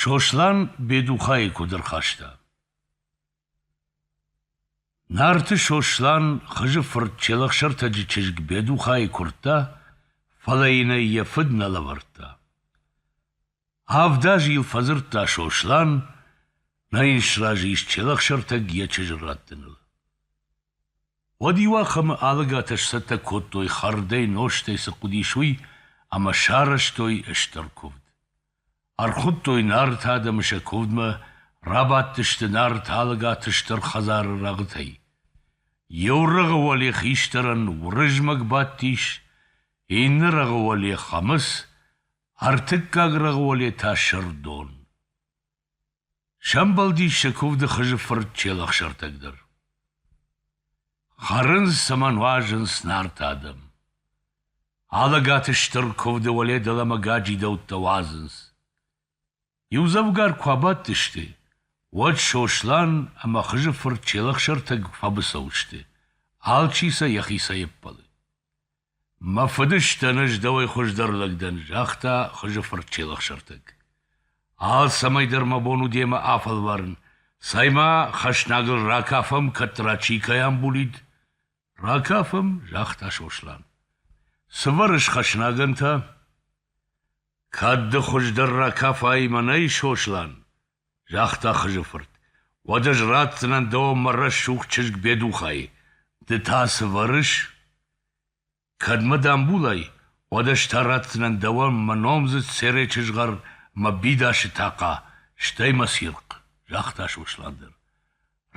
Сослан Бедухайы куыд ӕрхаста? Нарты Сослан Хызы фырт Челӕхсӕртӕджы чызг Бедухайы куырдта, фӕлӕ йын ӕй йӕ фыд нӕ лӕвӕрдта. Авд азы йыл фӕдзырдта Сослан, нӕ йын сразы ис Челӕхсӕртӕг йӕ чызджы раттыныл. Уӕд иуахӕмы алыгатӕ сцӕттӕ кодтой хӕрдӕй, нозтӕй цы хъуыдис, уый ӕмӕ сарӕзтой стыр куывд. Ӕрхуыдтой Нарты адӕмы сӕ куывдмӕ, рабадтысты Нарты алыгаты стыр хӕдзары рӕгъытӕй. Иу рӕгъы уӕле хистӕрӕн Уырызмӕг бадтис, иннӕ рӕгъы уӕле Хӕмыц, ӕртыккаг рӕгъы уӕле та Сырдон. Сӕмбӕлдис сӕ куывды Хызы фырт Челӕхсӕртӕг дӕр. Хӕрынц ӕмӕ нуазынц Нарты адӕм. Алӕгаты стыр куывды уӕле дӕлӕмӕ гаджидӕуттӕ уадзынц. Иудзӕвгар куы абадтысты, уӕд Сослан ӕмӕ Хызы фырт Челӕхсӕртӕг фӕбыцӕу сты, алчи сӕ йӕхицӕй ӕппӕлы. Мӕ фыдыстӕн ӕз дӕуӕй хуыздӕр лӕг дӕн, загъта Хызы фырт Челӕхсӕртӕг. Алцӕмӕй дӕр мӕ бон у демӕ афӕлварын, цӕй-ма хӕснагыл ракафӕм, кӕддӕра чи кӕй амбулид. — Ракафӕм, — загъта Сослан. — Цы вӕрыс хӕснагӕн та? — Кӕд ды хуыздӕр ракафай мӕнӕй, Сослан, загъта Хызы фырт, уӕд ӕз ратдзынӕн дӕуӕн мӕ рӕсугъд чызг Бедухайы. Ды та цы вӕрыс? Кӕд мӕ дамбулай, уӕд ӕз та ратдзынӕн дӕуӕн мӕ номдзыд Серечы згъӕр мӕ бидасы тахъа, стӕй мӕ цирхъ, загъта Сослан дӕр.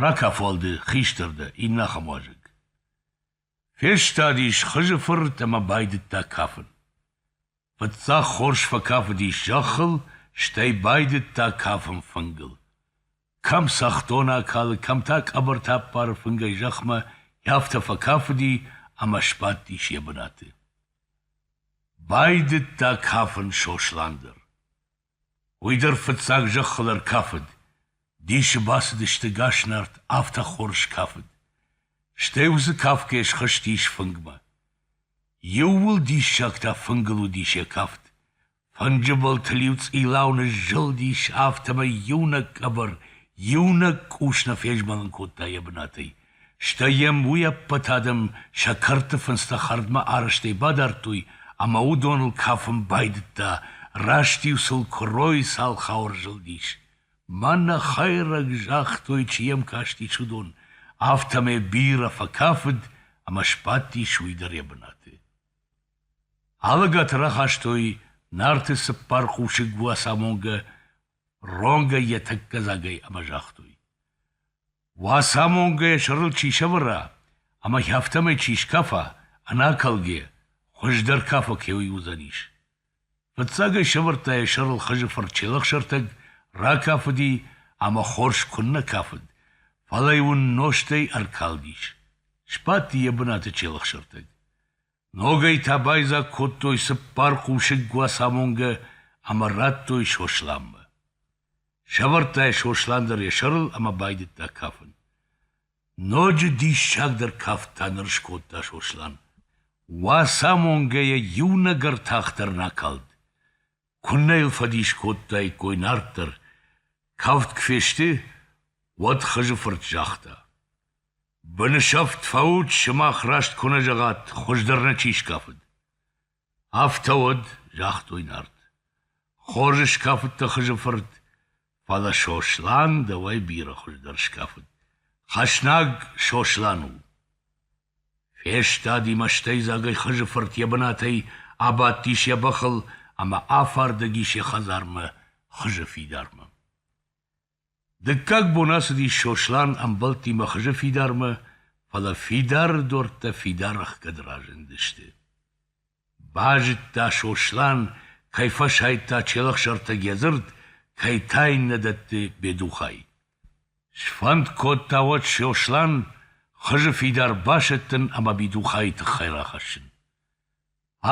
Ракафуал ды хистӕр дӕ, иннӕ ахӕм уазӕг. Фестадис Хызы фырт ӕмӕ байдыдта кафын. Фыццаг хорз фӕкафыдис зӕххыл, стӕй байдыдта кафын фынгыл. Кӕм цӕхдон акалы, кӕм та къӕбӕртӕ аппары фынгӕй зӕхмӕ, афтӕ фӕкафыди ӕмӕ сбадтис йӕ бынаты. Байдыдта кафын Сослан дӕр. Уый дӕр фыццаг зӕххыл ӕркафыд, дисы бацыдысты Гаснарт, афтӕ хорз кафыд. Стӕй уыцы кафгӕ схызтис фынгмӕ. Иууыл диссаг та фынгыл уыдис йӕ кафт. Фынджы былтыл-иу цъилау ныззылдис, афтӕмӕй иунӕг къӕбӕр, иунӕг къус нӕ фезмӕлын кодта йӕ бынатӕй. Стӕй йӕм уый ӕппӕт адӕм сӕ кӕрты фындзтӕ хӕрдмӕ арӕзтӕй бадардтой ӕмӕ уыдоныл кафын байдыдта, раст-иу сыл куыройы цалхау ӕрзылдис. Мӕнӕ хӕйрӕг, загътой, чи йӕм кастис, уыдон, афтӕмӕй бирӕ фӕкафыд ӕмӕ сбадтис уый дӕр йӕ бынаты. Алыгаты рахастой Нарты цыппар хъусыг Уацамонгӕ ронгӕй йӕ тӕккӕ дзагӕй ӕмӕ загътой. Уацамонгӕ йӕ сӕрыл чи сӕвӕра ӕмӕ афтӕмӕй чи скафа, ӕнӕкӕлгӕ, хуыздӕр кафӕг кӕуый уыдзӕнис. Фыццаг ӕй сӕвӕрдта йӕ сӕрыл хызы фырт Челӕхсӕртӕг, ракафыди ӕмӕ хорз куыннӕ кафыд, фӕлӕ йын уын нозтӕй ӕркалдис. Сбадти йӕ бынаты Челӕхсӕртӕг. Ногӕй та байдзаг кодтой цыппар хъусыг Уацамонгӕ ӕмӕ радтой Сосланмӕ. Сӕвӕрдта йӕ Сослан дӕр йӕ сӕрыл ӕмӕ байдыдта кафын. Ноджы диссагдӕр кафт та ныр скодта Сослан. Уацамонгӕйӕ иунӕг ӕртах дӕр накалд. Куыннӕ йыл фӕдис кодтаиккой нарт дӕр. Кафт куы фесты, уӕд Хызы фырт загъта. — Бынысӕфт фӕут, сымах раст куы нӕ зӕгъат, хуыздӕр нӕ чи скафыд. Афтӕ уӕд, загътой Нарт, хорз скафыдтӕ Хызы фырт, фӕлӕ Сослан дӕуӕй бирӕ хуыздӕр скафыд. Хӕснаг Сослан у. Фестади мӕстӕйдзагӕй Хызы фырт йӕ бынатӕй, абадтис йӕ бӕхыл ӕмӕ афардӕг ис йӕ хӕдзармӕ Хызы фидармӕ. Дыккаг бон ацыдис Сослан ӕмбӕлттимӕ хызы фидармӕ, фӕлӕ фидары дуртӕ фидар ӕхгӕд разындысты. Базыдта Сослан, кӕй фӕсайдта челӕхсӕртӕг йӕ дзырд, кӕй та иннӕ дӕтты бедухӕй. Сфӕнд кодта уӕд Сослан хызы фидар басӕттын ӕмӕ бедухӕйы тыххӕй рахӕссын.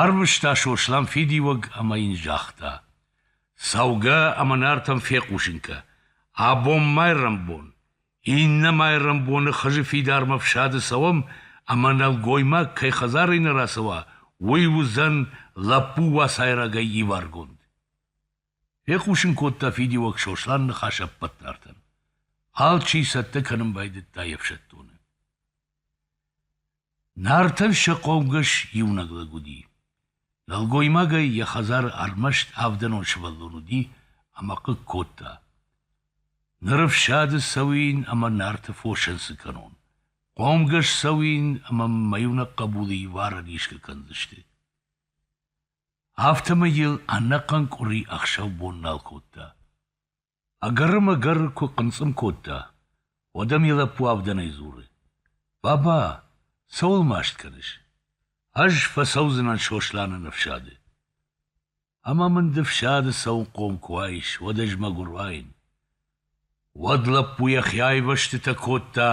Арвыста Сослан фидиуӕг ӕмӕ йын загъта: «Цӕугӕ ӕмӕ Нартӕм фехъусынкӕ, абон майрӕмбон, иннӕ майрӕмбоны Хызы фидармӕ фсады цӕуӕм ӕмӕ нӕлгоймаг кӕй хӕдзарӕй нӕ рацӕуа, уый уыдзӕн лӕппу уацайрагӕй иваргонд». Фехъусын кодта фидиуӕг Сослан ныхас ӕппӕт Нартӕн. Алчи цӕттӕ кӕнын байдыдта йе фсӕддоны. Нартӕн сӕ хъомгӕс иунӕг лӕг уыди. нӕлгоймагӕй йӕ хӕдзары ӕрмӕст авдӕнон сывӕллон уыди ӕмӕ хъыг кодта. Ныр ӕфсады цӕуин ӕмӕ Нарты фосӕн цы кӕнон? Хъомгӕс цӕуин ӕмӕ мӕ иунӕг хъӕбулы иварӕн исгӕ кӕндзысты. Афтӕмӕй йыл ӕнӕхъӕн къуыри ӕхсӕв бон нал кодта. Ӕгӕр-мӕгӕр куы хъынцъым кодта, уӕд ӕм йӕ лӕппу авдӕнӕй дзуры: «Баба, цӕуыл маст кӕныс? Ӕз фӕцӕудзынӕн Сосланы ныфсады. Ӕмӕ мын ды фсады цӕуынхъом куы уаис, уӕд ӕз мӕгуыр уаин». Уӕд лӕппу йӕхи айвӕзтытӕ кодта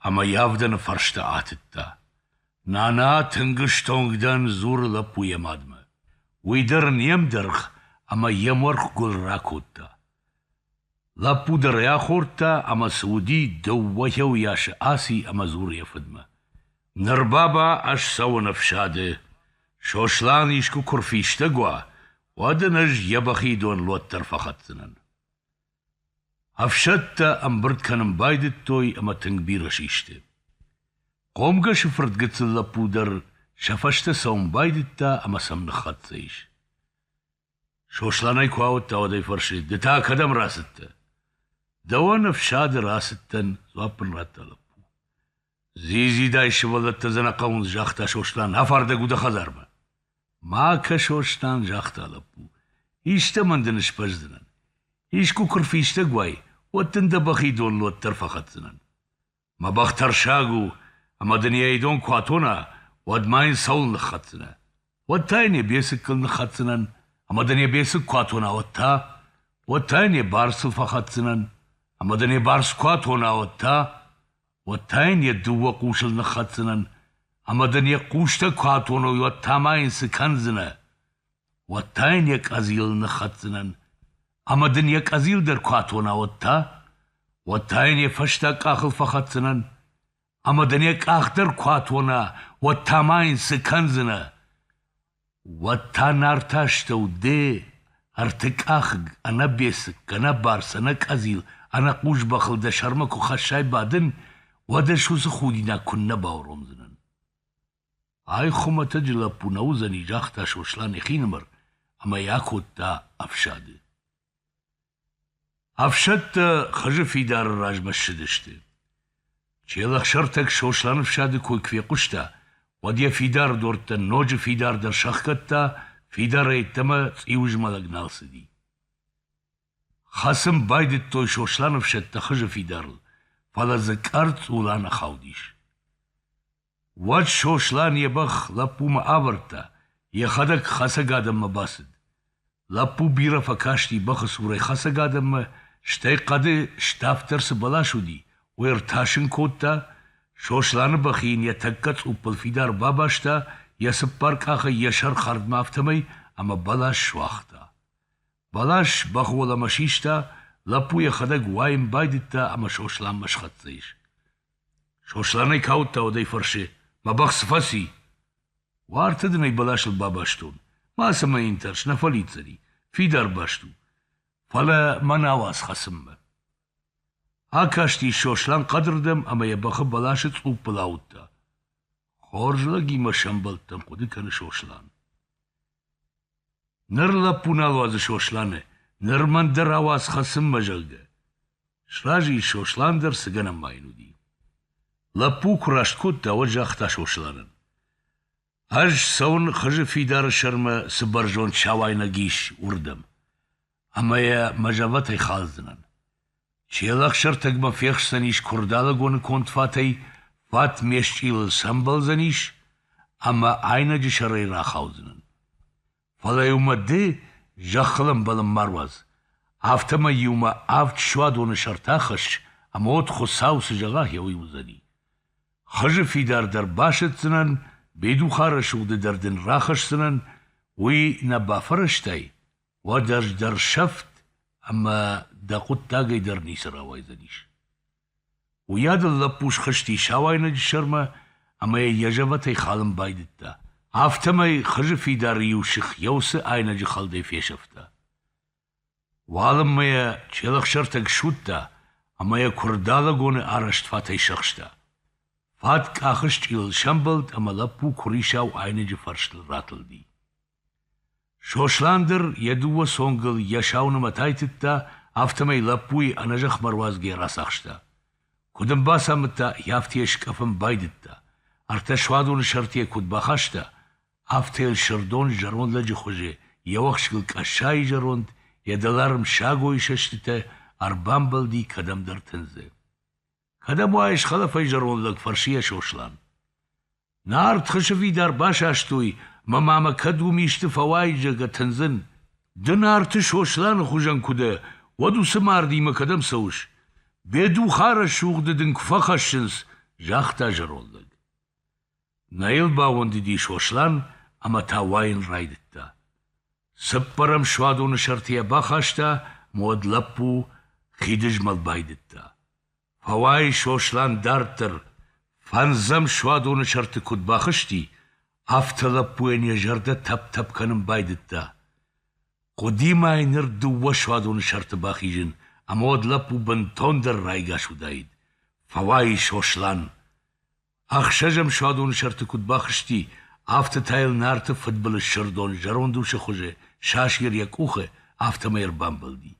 ӕмӕ йӕ авдӕны фӕрстӕ атыдта. Нана тынг стонг дӕн, дзуры лӕппу йӕ мадмӕ. Уый дӕр не мдӕргъ ӕмӕ йӕм уӕрхгуыл ракодта. Лӕппу дӕр ӕй ахордта ӕмӕ цы уыди, дыууӕ йӕсы аци ӕмӕ дзуры йӕ фыдмӕ. Ныр, баба, ӕз цӕуын ӕфсады. Сослан искуы куы рфистӕг уа, уӕд ын ӕз йӕ бӕхи дон лот дӕр фӕхӕцдзынӕн. Ӕфсӕдтӕ ӕмбырд кӕнын байдыдтой ӕмӕ тынг бирӕ систы. Хъомгӕсы фырт гыццыл лӕппу дӕр сӕ фӕстӕ цӕуын байдыдта ӕмӕ сӕм ныххӕццӕ ис. Сосланӕй куы ауыдта, уӕд ӕй фӕрсы, ды та кӕдӕм рацыдтӕ? Дӕуӕн ӕфсады рацыдтӕн, дзуапп ын радта лӕппу. Дзидзидай сывӕллӕттӕ дзы нӕ хъӕуынц, загъта Сослан. Афардӕг у дӕ хӕдзармӕ. Ма кӕ, Сослан, загъта лӕппу. Истӕмӕн дын сбӕздзынӕн. Искуы куы рфистӕг уай, уӕд дын дӕ бӕхи дон лот дӕр фӕхӕцдзынӕн. Мӕ бӕх тӕрсаг у, ӕмӕ дын йӕ идон куы атона, уӕд ма йын цӕуыл ныххӕцдзынӕ? Уӕд та йын йӕ бецыккыл ныххӕцдзынӕн, ӕмӕ дын йӕ бецыкк куы атона, уӕд та? Уӕд та йын йӕ барцыл фӕхӕцдзынӕн, ӕмӕ дын йӕ барц куы атона, уӕд та? уӕд та йын йӕ дыууӕ хъусыл ныххӕцдзынӕн, ӕмӕ дын йӕ хъустӕ куы атоной, уӕд та ма йын цы кӕндзынӕ? Уӕд та йын йӕ къӕдзил ныххӕцдзынӕн, ӕмӕ дын йӕ къӕдзил дӕр куы атона, уӕд та? Уӕд та йын йӕ фӕстаг къахыл фӕхӕцдзынӕн, ӕмӕ дын йӕ къах дӕр куы атона, уӕд та ма йын цы кӕндзынӕ? Уӕд та Нарты астӕу де, ӕртыкъахыг, ӕнӕбецык, ӕнӕбарц, ӕнӕкъӕдзил, ӕнӕкъус бӕхыл дӕ сӕрмӕ куы хӕссай бадын, уӕд ӕз уыцы худинаг куыннӕ бауромдзынӕн. Ай хуымӕтӕджы лӕппу нӕ уыдзӕни, загъта Сослан йӕхинымӕр ӕмӕ йӕ акодта ӕфсады. Ӕфсӕдтӕ Хызы фидары размӕ ссыдысты. Челӕхсӕртӕг Сослан ӕфсады кой куы фехъуыста, уӕд йӕ фидары дуртӕ ноджы фидардӕр сӕхгӕдта, фидарӕй ӕддӕмӕ цъиуызмӕлӕг нал цыди. Хӕцын байдыдтой Сослан ӕфсӕдтӕ Хызы фидарыл, фӕлӕ дзы къӕрцъул аныхаудис. Уӕд Сослан йӕ бӕх лӕппумӕ авӕрдта, йӕхӕдӕг хӕцӕг адӕммӕ бацыд. Лӕппу бирӕ фӕкасти бӕхы цурӕй хӕцӕг адӕммӕ, стӕй хъӕды ставддӕр цы бӕлас уыди, уый ӕртасын кодта, Сосланы бӕх йын йӕ тӕккӕ цъуппыл фидар бабаста, йӕ цыппар къахӕй йӕ сӕр хӕрдмӕ афтӕмӕй, ӕмӕ бӕлас суагъта. Бӕлас бӕх уӕлӕмӕ систа, лӕппу йӕхӕдӕг уайын байдыдта ӕмӕ Сосланмӕ схӕццӕ ис. Сослан ӕй каудта уӕдӕй фӕрсы, Мӕ бӕх цы фӕци? Уарты дын ӕй бӕласыл бабастон, мацӕмӕ йын тӕрс, нӕ фӕлидздзӕни, фидар баст у, фӕлӕ мӕ науӕдз хӕцынмӕ. Акасти Сослан хъӕдырдӕм ӕмӕ йӕ бӕхы бӕласы цъуппыл ауыдта. Хорз лӕгимӕ сӕмбӕлдтӕн, хъуыды кӕны Сослан. Ныр лӕппу нал уадзы Сосланы, ныр мӕн дӕр ауадз хӕцынмӕ, зӕгъгӕ. Сразы ис Сослан дӕр, цы гӕнӕн ма йын уыди. Лӕппу куы раст кодта, уӕд загъта Сосланӕн. Ӕз цӕуын хызы фидары сӕрмӕ цы бӕрзонд сауайнаг ис, уырдӕм. Ӕмӕ йӕ мӕ зӕвӕтӕй халдзынӕн. Челӕхсӕртӕгмӕ фехсдзӕнис Куырдалыгоны конд фатӕй, фат ме счъилыл сӕмбӕлдзӕнис ӕмӕ айнӕджы сӕрӕй рахаудзынӕн. Фӕлӕ-иу мӕ ды зӕххыл ӕмбӕлын ма руадз, афтӕмӕй-иу мӕ авд суадоны сӕрты ахӕсс, ӕмӕ уӕд Хуыцау цы зӕгъа, гъеуый уыдзӕни. Хызы фидар дӕр басӕтдзынӕн, Бедухарӕсугъды дӕр дын рахӕсдзынӕн, уый нӕ бафӕрӕзтай? Уӕд ӕз дӕр сӕфт ӕмӕ дӕ хъуыддагӕй дӕр ницы рауайдзӕнис. Уыйадыл лӕппу схызти сауайнӕджы сӕрмӕ ӕмӕ йӕ йӕ зӕвӕтӕй халын байдыдта. Афтӕмӕй хызы фидары иу сых Йеусы айнӕджы хӕлдӕй фесӕфта. Уалынмӕ йӕ челӕхсӕртӕг суыдта ӕмӕ йӕ куырдалӕгоны арӕзт фатӕй сӕхста. Фат къахы счъилыл сӕмбӕлд ӕмӕ лӕппу куырисау айнӕджы фӕрстыл ратылди. Сослан дӕр йӕ дыууӕ цонгыл йӕ сау нымӕт айтыдта, афтӕмӕй лӕппуйы ӕнӕзӕхмӕ руадзгӕ рацахста. Куыд ын бацамыдта, афтӕ йӕ скъӕфын байдыдта, ӕртӕ суадоны сӕрты йӕ куыд бахаста, афтӕ йыл Сырдон зӕронд лӕджы хуызы йӕ уӕхскыл къӕссайы зӕронд, йӕ дӕларм сагойы сӕстытӕ ӕрбамбӕлди кӕдӕмдӕр тындзы. Кӕдӕм уаис, хӕлафӕй зӕронд лӕг? фӕрсы йӕ Сослан. Нард хысы фидар басастой мӕ ма мӕ кӕд уым исты фӕуайдзӕг атындзын. Ды Нарты Сосланы хуызӕн куы дӕ, уӕд уыцы мардимӕ кӕдӕм цӕуыс? Бедухарӕсугъды дын куы фӕхӕссынц, загъта зӕронд лӕг. Нӕ йыл бауӕндыди Сослан ӕмӕ та уайын райдыдта. Цыппӕрӕм суадоны сӕртӕ йӕ бахаста мӕ уӕд лӕппу хидызмӕл байдыдта. Фӕуай Сослан дарддӕр, фӕндзӕм суадоны сӕрты куыд бахызти, афтӕ лӕппуйӕн йӕ зӕрдӕ тӕп-тӕп кӕнын байдыдта. Хъуыди мӕй ныр дыууӕ суадоны сӕрты бахизын, ӕмӕ уӕд лӕппу бынтондӕр райгас уыдаид. Фӕуай Сослан! Ӕхсӕзӕм суадоны сӕрты куыд бахызти, афтӕ та йыл Нарты фыдбылыз Сырдон зӕронд усы хуызы сасир йӕ къухы, афтӕмӕй ӕрбамбӕлди.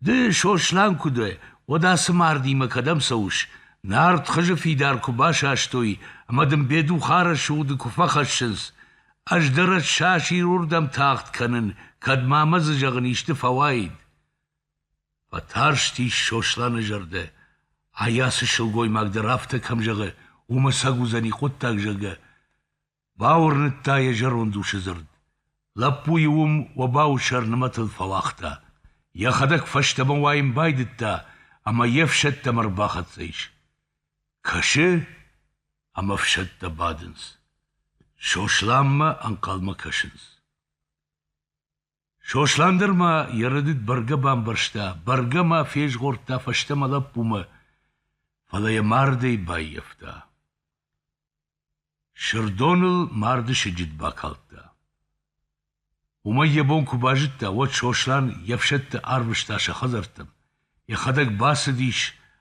Ды, Сослан, куы дӕ, уӕд ацы мардимӕ кӕдӕм цӕуыс? Нард хызы фидар куы басастой ӕмӕ дын бедухарӕсы уды куы фӕхӕссынц. Ӕз дӕр ӕссасир уырдӕм тагъд кӕнын, кӕд ма мӕ дзы зӕгъын исты фӕуаид. Фӕтарстис Сосланы зӕрдӕ. Ай ацы сылгоймаг дӕр афтӕ кӕм зӕгъы, уымӕ сӕг уыдзӕни хъуыддаг, зӕгъгӕ. Бауырныдта йӕ зӕронд усы дзырд. Лӕппуйы уым обауы сӕр нымӕтыл фӕуагъта. Йӕхӕдӕг фӕстӕмӕ уайын байдыдта ӕмӕ йе фсӕдтӕм ӕрбахӕццӕ ис. Кӕсы, ӕмӕ ӕфсӕдтӕ бадынц. Сосланмӕ ӕнхъӕлмӕ кӕсынц. Сослан дӕр ма йӕ рӕдыд бӕргӕ бамбӕрста, бӕргӕ ма фезгъордта фӕстӕмӕ лӕппумӕ, фӕлӕ йӕ мардӕй баййӕфта. Сырдоныл марды сыджыт бакалдта. Уымӕй йӕ бон куы базыдта, уӕд Сослан йе фсӕдты арвыста сӕ хӕдзӕрттӕм Йӕхӕдӕг бацыдис,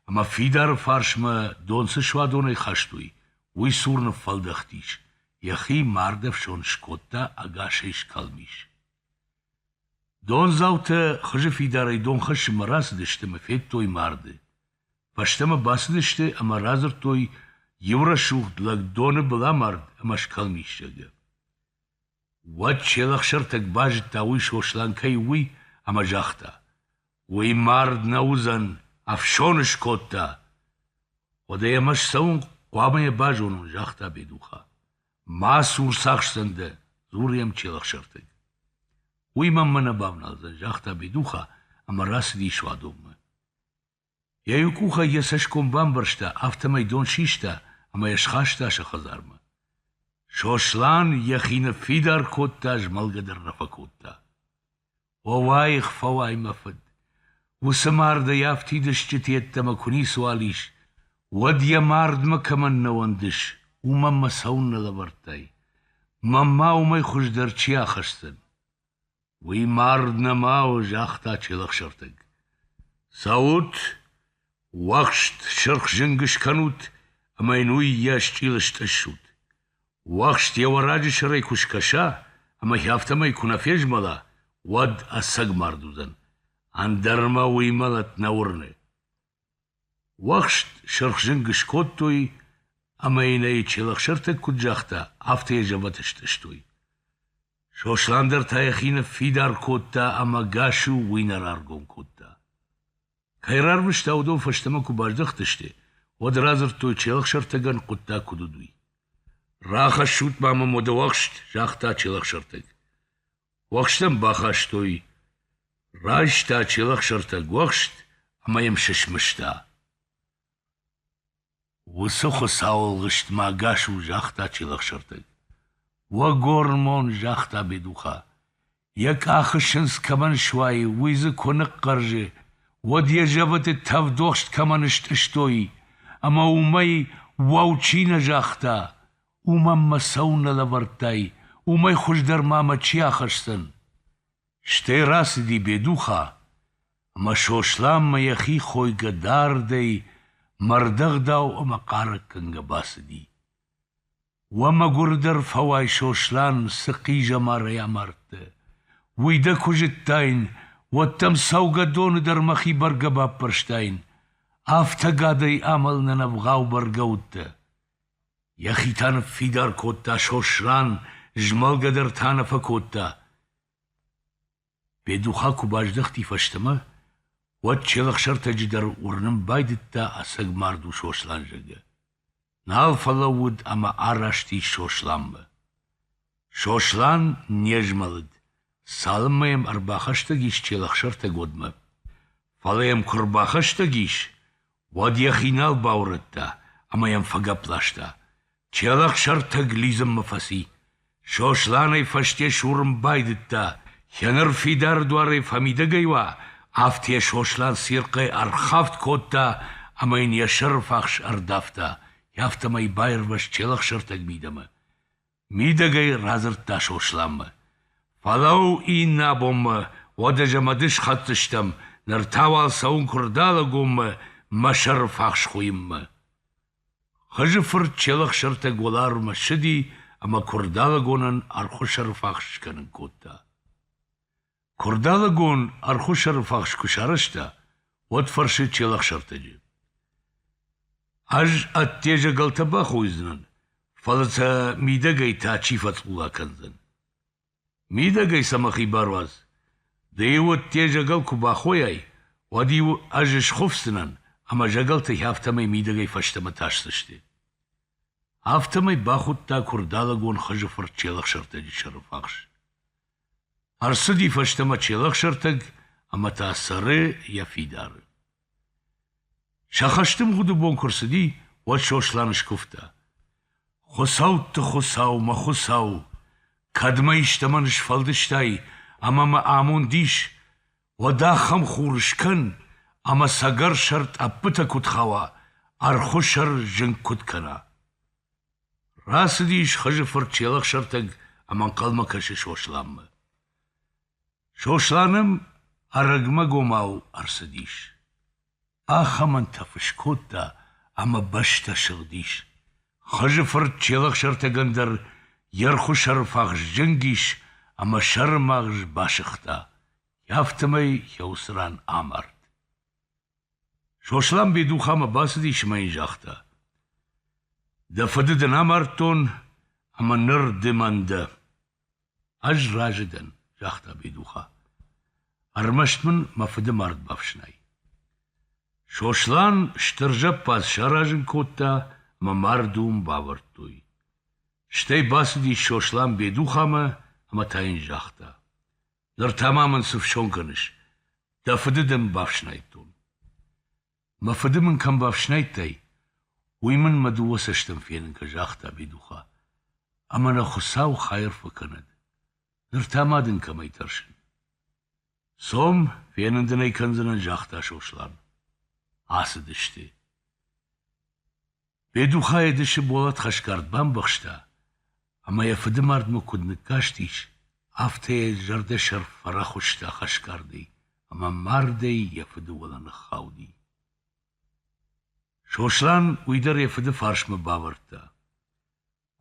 ӕмӕ фидары фарсмӕ дон цы суадонӕй хастой, уый цур ныффӕлдӕхтис, йӕхи мардӕфсон скодта ӕгасӕй скалмис. Дондзаутӕ хызы фидарӕй дон хӕссынмӕ рацыдысты ӕмӕ федтой марды. Фӕстӕмӕ бацыдысты ӕмӕ радзырдтой иу рӕсугъд лӕг доны был амард ӕмӕ скалмиссагы. Уӕд се лӕхсӕртӕг базыдта, уый Сослан кӕй у, уый, ӕмӕ загъта: Уый мард нӕ уыдзӕн, ӕфсон скодта. Уӕдӕ ӕмӕ ссӕуын хъуамӕ йӕ базонон, загъта Бедуха. Ма сур сахсдзӕн дӕ, дзуры йӕм челӕхсӕртӕг. Уый мӕнмӕ нӕ бавналдзӕн, загъта Бедуха ӕмӕ рацыди суадонмӕ. Йӕ иу къухӕй йӕ цӕсгом бамбӕрзта, афтӕмӕй дон систа ӕмӕ йӕ схаста сӕ хӕдзармӕ. Сослан йӕхи ныффидар кодта, змӕлгӕ дӕр нӕ фӕкодта. Фӕуаих, фӕуай, мӕ фыд! Уыцы мардӕй афтид стджыты йеддӕмӕ куы ницыуал ис, уӕд йӕ мардмӕ кӕмӕн нӕ уӕндыс, уымӕн мӕ цӕуыннӕ лӕвӕрдтай? Мӕнмӕ уымӕй хуыздӕр чи ахӕсдзӕн? Уый мард нӕма у, загъта Челӕхсӕртӕг. Цӕут, уӕхст сырх зынг скӕнут ӕмӕ йын уый йӕ счъил стъыссут. Уӕхст йӕ уӕраджы сӕрӕй куы скӕса ӕмӕ йӕ афтӕмӕй куы нӕ фезмӕла, уӕд ӕцӕг мард уыдзӕн. Ӕндӕр мӕ уый мӕлӕт нӕ уырны. Уӕхст сырх зынг скодтой ӕмӕ йын ӕй Челӕхсӕртӕг куыд загъта, афтӕ йӕ зӕвӕт стъыстой. Сослан дӕр та йӕхи ныффидар кодта ӕмӕ Гасу уый нӕ раргом кодта. Кӕй рарвыста, уыдон фӕстӕмӕ куы баздӕхтысты, уӕд радзырдтой Челӕхсӕртӕгӕн хъуыддаг куыд уыд, уый. «Рахӕссут ма мӕм уӕд уӕхст», — загъта Челӕхсӕртӕг. Уӕхстӕн бахастой. Райста челӕхсӕртӕг уӕхст ӕмӕ йӕм сысмыста. Уыцы хуыцауылгъыстмӕ ӕгас у, загъта челӕхсӕртӕг. Уӕгормон, загъта Бедуха. Йӕ къахы сындз кӕмӕн суайы, уый дзы куы ныхъхъӕрзы, уӕд йӕ зӕвӕты тӕвдохст кӕмӕн стъыстой, ӕмӕ уымӕй уӕу чи нӕ загъта, Уымӕн мӕ цӕуыл нӕ лӕвӕрдтай, уымӕй хуыздӕр ма мӕ чи ахӕсдзӕн? Стӕй рацыди Бедуха, ӕмӕ Сосланмӕ йӕхи хойгӕ дардӕй мӕрдӕгъдау ӕмӕ хъарӕггӕнгӕ бацыди. Уӕ мӕгуырдӕр фӕуай, Сослан, цы хъизӕмарӕй амардтӕ! Уый дӕ куы зыдтаин, уӕд дӕм цӕугӕдоны дӕр мӕхи бӕргӕ баппӕрстаин, афтӕ гӕдӕй амӕлынӕн ӕвгъау бӕргӕ уыдтӕ. Йӕхи та ныффидар кодта Сослан, змӕлгӕ дӕр та нӕ фӕкодта. Бедуха куы баздӕхти фӕстӕмӕ, уӕд челӕхсӕртӕджы дӕр уырнын байдыдта ӕцӕг мард у Сослан, зӕгъгӕ. Нал фӕлӕууыд ӕмӕ араст ис Сосланмӕ. Сослан не змӕлыд, цалынмӕ йӕм ӕрбахӕстӕг ис Челӕхсӕртӕгодмӕ. Фӕлӕ йӕм куы ӕрбахӕстӕг ис, уӕд йӕхи нал баурӕдта ӕмӕ йӕм фӕгӕпп ласта. Челӕхсӕртӕг лидзынмӕ фӕци. Сосланӕй фӕсте сурын байдыдта, йӕ ныр фидар дуарӕй фӕмидӕгӕй уа, афтӕ йӕ Сослан цирхъӕй ӕрхафт кодта ӕмӕ йын йӕ сӕрыфахс ӕрдавта, афтӕмӕй баирвӕзт Челӕхсӕртӕг мидӕмӕ. Мидӕгӕй радзырдта Сосланмӕ. — Фӕлӕуу иннӕ бонмӕ, уӕдӕ зӕ мӕды схӕцдзыстӕм, ныр та уал цӕуын Куырдалыгонмӕ мӕ сӕрыфахсхуыйынмӕ. Хызы фырт Челӕхсӕртӕг уӕларвмӕ ссыди ӕмӕ Куырдалыгонӕн ӕрхуы сӕрыфахс скӕнын кодта. Куырдалыгон ӕрхуысӕрыфахс куы сарӕзта, уӕд фӕрсы Челӕхсӕртӕджы: — Ӕз ӕдде зӕгӕлтӕ бахойдзынӕн, фӕлӕ сӕ мидӕгӕй та чи фӕцъула кӕндзӕн? Мидӕгӕй сӕ мӕхи баруадз, ды-иу ӕдде зӕгӕл куы бахойай, уӕд-иу ӕз схуыфдзынӕн ӕмӕ зӕгӕлтӕй афтӕмӕй мидӕгӕй фӕстӕмӕ тасдзысты. Афтӕмӕй бахуыдта Куырдалыгон хызы фырт Челӕхсӕртӕджы сӕрыфахс. Ӕрцыди фӕстӕмӕ Челӕхсӕртӕг ӕмӕ та цӕры йӕ фидары. Сӕ хӕсты мгъуыды бон куы рцыди, уӕд Сослан скуывта. Хуыцӕутты Хуыцау, мӕ Хуыцау, кӕд мӕ истӕмӕн сфӕлдыстай ӕмӕ мӕ амонд ис, уӕд ахӕм хур скӕн, ӕмӕ цӕгӕр сӕр тъӕппытӕ куыд хауа, ӕрхуы сӕр зынг куыд кӕна. Рацыдис Хызы фырт Челӕхсӕртӕг ӕмӕ ӕнхъӕлмӕ кӕсы Сосланмӕ. Сослан ӕм ӕрӕгмӕгомау ӕрцыдис. Ахӕмӕнтӕф скодта ӕмӕ бӕстӕ сыгъдис. Хызы фырт Челӕхсӕртӕгӕн дӕр йе рхуыс ӕрфахс зынг ис ӕмӕ сӕрымагъз басыгъта, афтӕмӕй йӕ уыцы ран амард. Сослан Бедухамӕ бацыдис ӕмӕ йын загъта: Дӕ фыды дын амардтон ӕмӕ ныр ды мӕн дӕ. Ӕз разы дӕн, загъта Бедуха. Ӕрмӕст мын мӕ фыды мард бафснай. Сослан стыр зӕппадз саразын кодта ӕмӕ мард уым бавӕрдтой. Стӕй бацыдис Сослан Бедухамӕ ӕмӕ та йын загъта: Ныр та ма мын цы фсон кӕныс? Дӕ фыды дын бафснайдтон. Мӕ фыды мын кӕм бафснайдтай, уый мын мӕ дыууӕ цӕстӕн фенын кӕ, загъта Бедуха. Ӕмӕ нӕ Хуыцау хайыр фӕкӕнӕд. Ныр та ма дын кӕмӕй тӕрсын? Цом, фенын дын ӕй кӕндзынӕн, загъта Сослан. Ацыдысты. Бедухайы дысы болат хӕсгард бамбӕхста, ӕмӕ йӕ фыды мардмӕ куыд ныккастис, афтӕ йӕ зӕрдӕсӕр фӕрӕхуыста хӕсгардӕй ӕмӕ мардӕй йӕ фыды уӕлӕ ныххауди. Сослан уый дӕр йӕ фыды фарсмӕ бавӕрдта.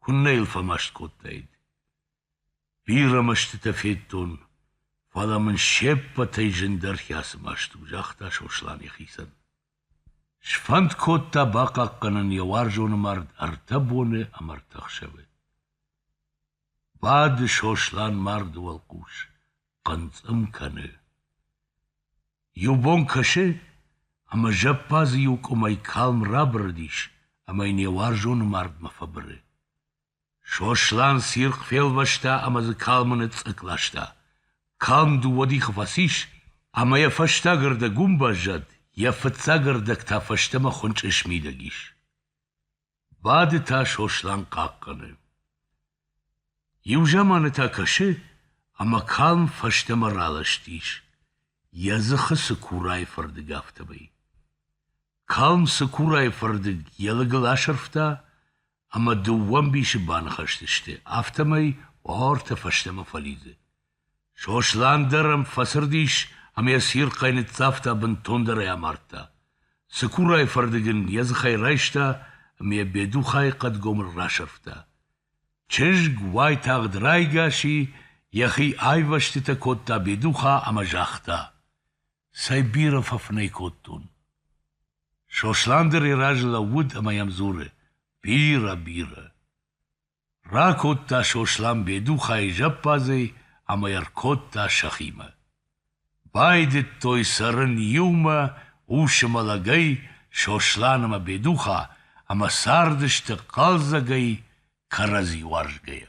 Куыннӕ йыл фӕмаст кодтаид! Бирӕ мӕстытӕ федтон, фӕлӕ мын се ппӕтӕй зындӕр хӕцы маст у, загъта Сослан йӕхицӕн. Сфӕнд кодта бахъахъхъӕнын йӕ уарзоны мард ӕртӕ боны ӕмӕ ӕртӕ ӕхсӕвы. Бады Сослан марды уӕлхъус, хъынцъым кӕны. Иу бон кӕсы, ӕмӕ зӕппадзы иу къуымӕй калм рабырыдис ӕмӕ йын йӕ уарзоны мардмӕ фӕбыры. Сослан цирхъ фелвӕста ӕмӕ дзы калмы ныцъцъыкк ласта. Калм дыууӕ дихы фӕцис, ӕмӕ йӕ фӕстаг ӕрдӕг уым баззад, йӕ фыццаг ӕрдӕг та фӕстӕмӕ хуынчъы смидӕг ис. Бады та Сослан хъахъхъӕны. Иу заманы та кӕсы, ӕмӕ калм фӕстӕмӕ ралӕстис. Йӕ дзыхы цыкурайы фӕрдыг афтӕмӕй. Калм цыкурайы фӕрдыг йӕ лыгыл асӕрфта, ӕмӕ дыууӕ ӕмбисы баныхӕстысты, афтӕмӕй уартӕ фӕстӕмӕ фӕлидзы. Сослан дӕр ӕм фӕцырдис ӕмӕ йӕ цирхъӕй ныццавта, бынтондӕр ӕй амардта. Цыкурайы фӕрдыг ын йӕ дзыхӕй райста ӕмӕ йӕ Бедухайы хъӕдгомыл расӕрфта. Чызг уайтагъд райгас и, йӕхи айвӕзтытӕ кодта Бедуха ӕмӕ загъта: «Цӕй бирӕ фӕфынӕй кодтон!» Сослан дӕр йӕ разы лӕууыд ӕмӕ йӕм дзуры: «Бирӕ, бирӕ!» Ракодта Сослан Бедухайы зӕппадзӕй ӕмӕ ӕркодта сӕхимӕ. Байдыдтой цӕрын иумӕ усы мӕлӕгӕй Сослан ӕмӕ Бедуха ӕмӕ цардысты хъӕлдзӕгӕй, кӕрӕдзи уарзгӕйӕ.